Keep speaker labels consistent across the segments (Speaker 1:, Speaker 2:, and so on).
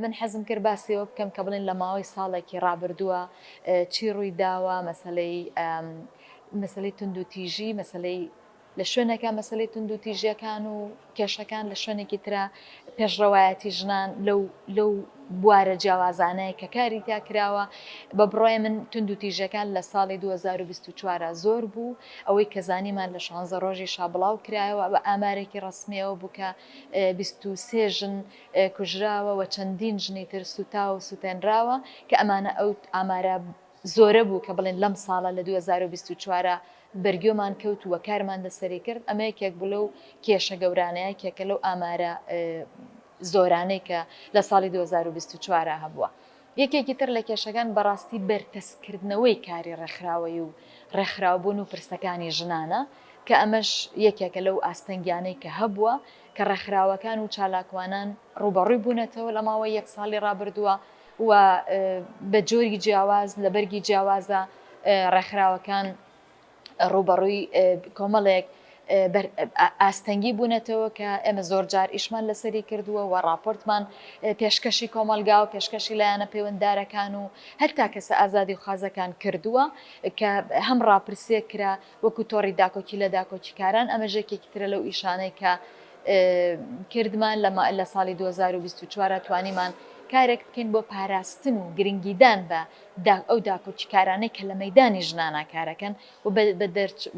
Speaker 1: من حەزم کرد باسی ئەوە بکەم کە بڵێن لە ماوەی ساڵێکی ڕابردووە چی ڕووی داوە، مەسەلەی مەسەلەی توندوتیژی، مەسەلەی لە شوێنێکە مەسەلەی توندوتیژیەکان و کێشەکان لە شوێنێکی ترە پێشڕەوایەتی ژنان لەو لەو بوارە جیاوازانەیە کە کاری تا کراوە بە بڕای من توندوتیژەکان لە ساڵی 2024 زۆر بوو ئەوەی کە زانیمان لە شانزە ڕۆژی شابڵاو کرایەوە بە ئامارێکی ڕسمیەوە بووکە 23 ژن کوژراوە و چەندین ژنی تر سوتاو و سوتێنراوە کە ئەمانە ئەو ئامارە زۆرە بوو کە بڵێن لەم ساڵە لە دوو هەزار و بیست و چوار ە بەرگۆمان کەوت و کارمان لەسەری کرد ئەمە یەکێک بوو لەو کێشە گەورانە یەکێکە لەو ئامارە زۆرانەی کە لە ساڵی دوو هەزار و بیست و چوار ە هەبووە. یەکێکی تر لە کێشەکان بەڕاستی بەرتەسککردنەوەی کاری ڕێکخراوەیی و ڕێکخراوبوون و پرسەکانی ژنانە، کە ئەمەش یەکێکە لەو ئاستەنگیانەی کە هەبووە، کە ڕێکخراوەکان و چالاکوانان ڕووبەڕووی بوونەتەوە لە ماوەی یەک ساڵی ڕابردووە و بە جۆری جیاواز لە بەرگی جیاوازە ڕێکخراوەکان ڕووبەڕووی کۆمەڵێک ئاستەنگی بوونەتەوە کە ئێمە زۆر جار ئیشمان لەسەری کردووە و راپۆرتمان پێشکەشی کۆمەلگا و پێشکەشی لایەنە پەیوەنددارەکان و هەتا کەسە ئازادی و خازەکان کردووە کە هەم راپرسێ کرا وەکو تۆڕی داکۆکی لە داکۆکیکاران ئەمە ژێکێکی ترە لەو ئیشانەی کە کردمان لە ساڵی 2024 توانیمان کارێک بکەین بۆ پاراستن و گرنگیدان بە دا ئەو داکۆکیکارانەی کە لە مەیدانی ژنانا کارەکەن و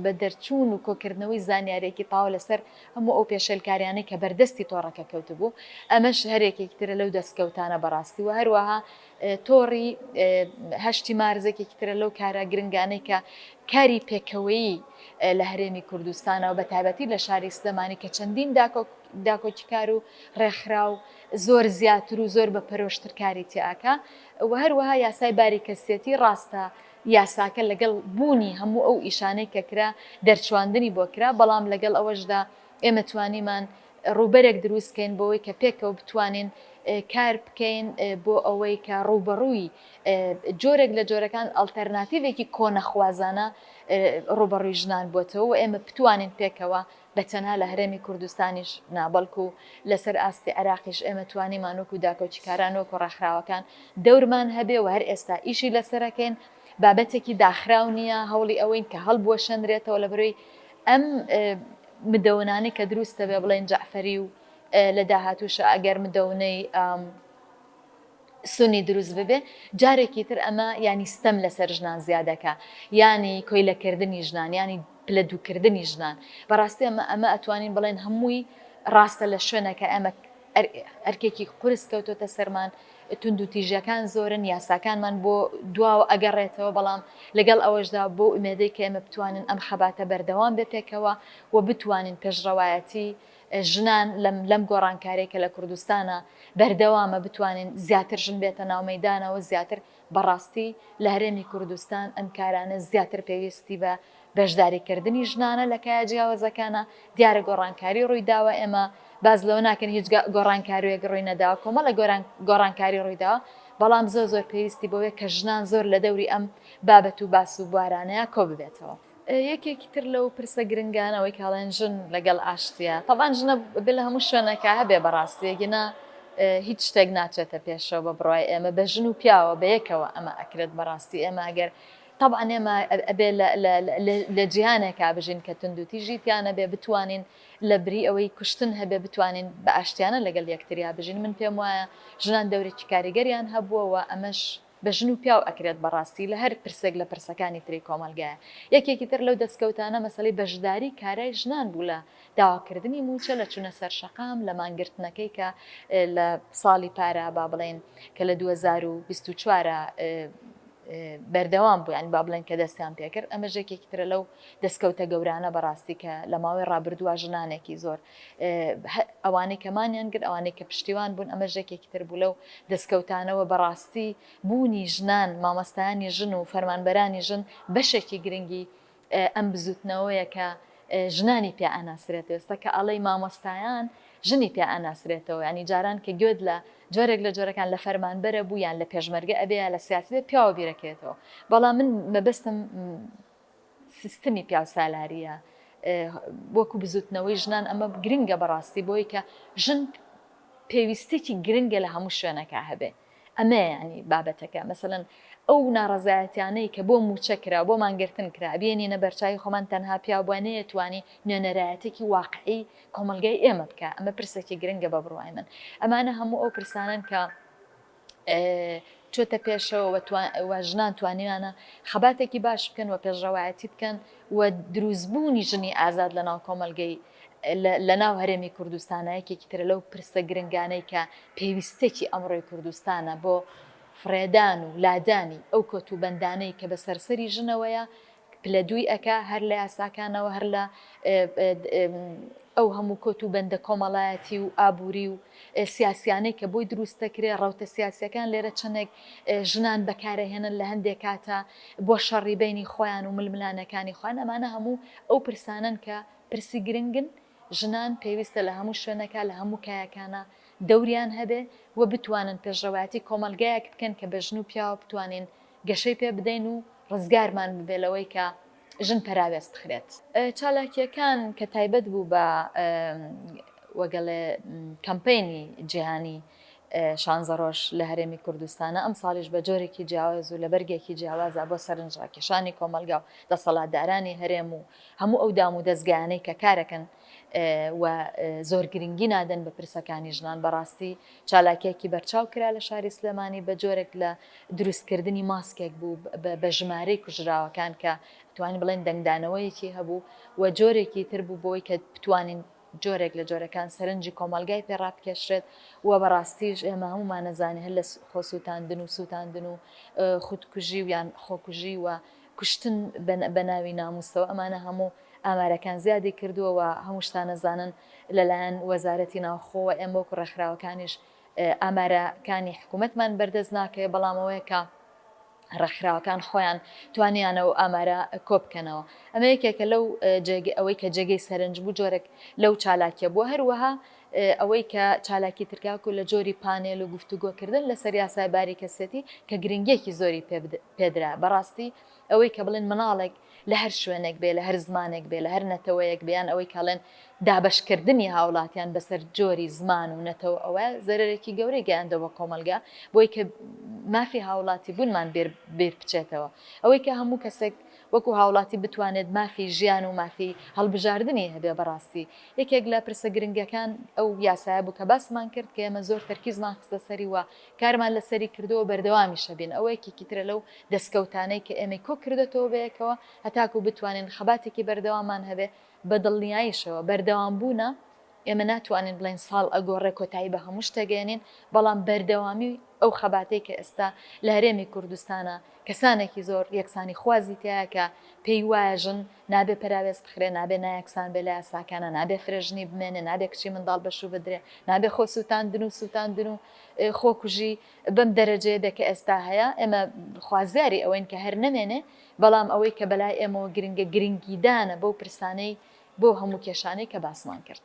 Speaker 1: بە دەرچوون و کۆکردنەوەی زانیاریەکی تاو لەسەر هەموو ئەو پێشێلکاریانەی کە بەردەستی تۆڕەکە کەوتبوو ئەمەش هەرێکێکی ترە لەو دەستکەوتانە بەڕاستی وە هەروەها تۆڕی هەشتی مارزێکێکی ترە لەو کارە گرنگانەی کە کاری پێکەوەیی لە هەرێمی کوردستانەوە بە تایبەتی لە شاری سلێمانی کە چەندین داکۆک داکۆکیکار و ڕێکخراو زۆر زیاتر و زۆر بە پەرۆشتر کاری تیاکە و هەروەها یاسای باری کەسیەتی ڕاستە یاساکە لەگەڵ بوونی هەموو ئەو ئیشانەی کە کرا دەرچواندنی بۆ کرا بەڵام لەگەڵ ئەوەشدا ئێمە توانیمان ڕووبەرێک دروست کەین بۆوەی کە پێکەوە بتوانین کار بکەین بۆ ئەوەی کە ڕووبەڕووی جۆرێک لە جۆرەکان ئەڵتەرناتیڤێکی کۆنەخوازانە ڕووبەڕووی ژنان بۆتەوە و ئێمە بتوانین پێکەوە بە تەنها لە هەرێمی کوردستانیش نا بەڵکو لە سەر ئاستی عێراقیش ئێمە توانیمان وەکو داکۆکیکاران وەکو ڕێکخراوەکان دەورمان هەبێ و هەر ئێستا ئیشی لە سەرەکەین بابەتێکی داخراو نییە هەوڵی ئەوەین کە هەڵبوەشێنرێتەوە لە بەرۆی ئەم مدەونانەی کە دروست دەبێ بڵێن جەعفەری و لە داهاتووشا ئەگەر مدەونەی سونی دروست ببێ جارێکی تر ئەمە یانی ستەم لەسەر ژنان زیادەکا یانی کۆیلە کردنی ژنان یانی پلە دوو کردنی ژنان بەڕاستی ئەمە ئەمە ئەتوانین بڵێن هەمووی ڕاستە لە شوێنەکە ئەمە ئەرکێکی قورس کەوتۆتە سەرمان توندو تیژەکان زۆرن یاساکانمان بۆ دواوە ئەگەڕێتەوە بەڵام لەگەڵ ئەوەشدا بۆ ئومێدەی کە ئێمە بتوانن ئەم خەباتە بەردەوام بێ پێکەوە و بتوانین پێشڕەوایەتی ژنان لەم گۆڕانکارەی کە لە کوردستانا بەردەوامە بتوانێن زیاتر ژن بێتە ناو مەیدانەوە زیاتر بەڕاستی لە هەرێمی کوردستان ئەم کارانە زیاتر پێویستی بە بەشداری کردنی ژنانە لە کایە جیاوەزەکانا دیارە گۆڕانکاری ڕووی داوە ئێمە باس لەوە ناکەن هیچ گۆڕانکاروێک ڕووی نەداوە کۆمەڵە گۆران گۆڕانکاری ڕووی داوە بەڵام زۆر زۆر پێویستی بۆیە کە ژنان زۆر لە دەوری ئەم بابەت و باس و بوارانەیە کۆ ببێتەوە. یەکێکی تر لەو پرسە گرنگانە ئەوەی کە ئەڵێن ژن لەگەڵ ئاشتییە، تەبعەن ژنە بێ لە هەموو شوێنێکا هەبێ بە ڕاستی ئەگینا هیچ شتێک ناچێتە پێشەوە بە بڕوای ئێمە بە ژن و پیاوە بە یەکەوە ئەمە ئەکرێت بە ڕاستی ئێمە ئەگەر تەبعەن ئێمە ئەبێ لە جیهانێکا بژین کە توندوتیژی تیا نەبێ بتوانین لە بری ئەوەی کوشتن هەبێ بتوانین بە ئاشتیانە لەگەڵ یەکتریا بژین من پێم وایە ژنان دەورێکی کاریگەریان هەبووە و ئەمەش بە ژن و پیاو ئەکرێت بەڕاستی لە هەر پرسێک لە پرسەکانی تری کۆمەڵگایە یەکێکی تر لەو دەستکەوتانە مەسەلەی بەشداری کارای ژنان بوو لە داواکردنی مووچە لە چونە سەر شەقام لە مانگرتنەکەی کە لە ساڵی پارە با بڵێین کە لە دوو هەزار و بیست و چوار بەردەوام بوو یانی با بڵێن کە دەستیان پێکرد ئەمەش یەکێکی ترە لەو دەستکەوتە گەورانە بەڕاستی کە لە ماوەی ڕابردووە ژنانێکی زۆر ئەوانەی کە مانیان گرت، ئەوانەی کە پشتیوان بوون، ئەمەش یەکێکی تر بوو لەو دەستکەوتانە و بەڕاستی بوونی ژنان، مامۆستایانی ژن و فەرمانبەرانی ژن بەشێکی گرنگی ئەم بزووتنەوەیە کە ژنانی پێ ئەناسرێتەوە، ئێستا کە ئەڵێی مامۆستایان ژنی پێ ئەناسرێتەوە، یانی جاران کە گوێت لە جۆرێک لە جۆرەکان لە فەرمانبەرە بوو یان لە پێشمەرگە ئەبێ یا لە سیاسی بێ پیاوە بیرەکەوێتەوە، بەڵام من مەبەستم سیستمی پیاوسالاریە وەکو بزوتنەوەی ژنان ئەمە گرنگە بەڕاستی بۆی کە ژن پێویستێکی گرنگە لە هەموو شوێنەکە هەبێ ئەمە ینی بابەتەکە مەسەن ئەو ناڕزایەتیانەی کە بۆ موچە کرا بۆ مانگرتن کرا بێنینە بەرچوی خۆمان تەنها پیاوانەیە توانی نوێنەرایەتێکی واقعی کۆمەلگای ئێمە بکە ئەمە پرسێکی گرنگە بە بڕای من ئەمانە هەموو ئەو پرسانن کە چۆتە پێشەوە و ژنان توانیویانە خەباتێکی باش بکەن و پێشڕەوایەتی بکەن و دروستبوونی ژنی ئازاد لە ناو کۆمەلگەی لە ناو هەرێمی کوردستانە یەکێکی ترە لەو پرسە گرنگانەی کە پێویستێکی ئەمڕۆی کوردستانە بۆ فڕێدان و لادانی ئەو کۆت و بەندانەی کە بە سەرسەری ژنەوەیە پلە دووی ئەکا هەر لە یاساکانەوە هەر لە ئەو هەموو کۆت و بەندە کۆمەڵایەتی و ئابووری و سیاسیانەی کە بۆی دروست دەکرێ ڕەوتە سیاسیەکان لێرە چەندێک ژنان بەکارەهێنن لە هەندێک کاتە بۆ شەڕی بینی خۆیان و ململانەکانی خۆیان ئەمانە هەموو ئەو پرسانن کە پرسی گرنگن ژنان پێویستە لە هەموو شوێنەکە لە هەموو کایەکانە دەوریان هەبێ و بتوانن پێشڕەوایەتی کۆمەلگایەک بکەن کە بە ژن و پیاوە بتوانین گەشەی پێ بدەین و ڕزگارمان ببێ لەوەی کە ژن پەراوێز بخرێت. چالاکییەکان کە تایبەت بوو بە وەگەڵێ کەمپەینی جیهانی شانزە ڕۆژ لە هەرێمی کوردستانە، ئەمساڵیش بە جۆرێکی جیاواز و لە بەرگێکی جیاوازە بۆ سەرنجڕاکێشانی کۆمەڵگا و دەسەڵاتدارانی هەرێم و هەموو ئەو دام و دەزگایانەی کە کارەکەن و زۆر گرنگی نادەن بە پرسەکانی ژنان بەڕاستی چالاکیەکی بەرچاو کرا لە شاری سلێمانی بە جۆرێک لە دروست کردنی ماسکێک بوو بە ژمارەی کوژراوەکان کە ئەتوانین بڵێن دەنگدانەوەیەکی هەبوو و جۆرێکی تر بوو بۆی کە بتوانین جۆرێک لە جۆرەکان سەرنجی کۆمەلگای پێ ڕابکێشرێت و بەڕاستیش ئێمە هەموومانە زانی هەر لە خۆسووتاندن و سووتاندن و خودکوژی و یان خۆکوژی و کوشتن بە ناوی ناموسەوە ئەمانە هەموو ئامارەکان زیادی کردووە و هەموو شتانە زانن لەلایەن وەزارەتی ناوخۆوە ئێمە وەکو ڕێکخراوەکانیش ئامارەکانی حکومەتمان بەردەست ناکەوێت، بەڵام ئەوەیە کە ڕێکخراوەکان خۆیان توانیانە ئەو ئامارە کۆبکەنەوە. ئەمە یەکێکە لەو ئەوەی کە جێگەی سەرنج بوو جۆرێک لەو چالاکیە بووە، هەروەها ئەوەی کە چالاکی ترکاکو لە جۆری پانێل و گفتوگۆکردن لەسەر یاسای باری کەسێتی کە گرنگیەکی زۆری پێدرا بەڕاستی ئەوەی کە بڵێن مناڵێک لە هەر شوێنێک بێ، لە هەر زمانێک بێ، لە هەر نەتەوەیەک بێ، یان ئەوەی کە ئەڵێن دابەشکردنی هاوڵاتیان بەسەر جۆری زمان و نەتەوە ئەوە زەرەرێکی گەورەی گەیاندوە بە کۆمەڵگا بۆی کە مافی هاوڵاتی بونمان بیر بچێتەوە ئەوەی کە هەموو کەسێک وەکو هاوڵاتی بتوانێت مافی ژیان و مافی هەڵبژاردنی هەبێ بەڕاستی یەکێک لە پرسە گرنگەکان ئەو یاسایە بوو کە باسمان کرد کە ئێمە زۆر تەرکیزمان خستە سەری و کارمان لەسەری کردووە و بەردەوامیش ئەبین، ئەوە یەکێکی ترە لەو دەستکەوتانەی کە ئێمەی کۆ کردۆتەوە بەیەکەوە هەتاکوو بتوانین خەباتێکی بەردەواممان هەبێ، بە دڵنیاییشەوە بەردەوام بوونە، ئێمە ناتوانین بڵێین ساڵ ئەگۆڕێ کۆتایی بە هەمووش دەگەیەنین، بەڵام بەردەوامی ئەو خەباتەی کە ئێستا لە هەرێمی کوردستانە کەسانێکی زۆر یەکسانی خوازی تیایە کە پێی وایە ژن نابێ پەراوێز بخرێ، نابێ نایەکسان بێ لە یاساکانا، نابێ فرە ژنی بمێنێ، نابێ کچی منداڵ بەشوو بدرێ، نابێ خۆ سووتاندن و سووتاندن و. خۆکوژی بەم دەرەجەیە بێ کە ئێستا هەیە، ئێمە خوازیاری ئەوەین کە هەر نەمێنێ، بەڵام ئەوەی کە بەلای ئێمەوە گرنگە گرنگیدانە بەو پرسانەی بۆ هەموو کێشانەی کە باسمان کرد.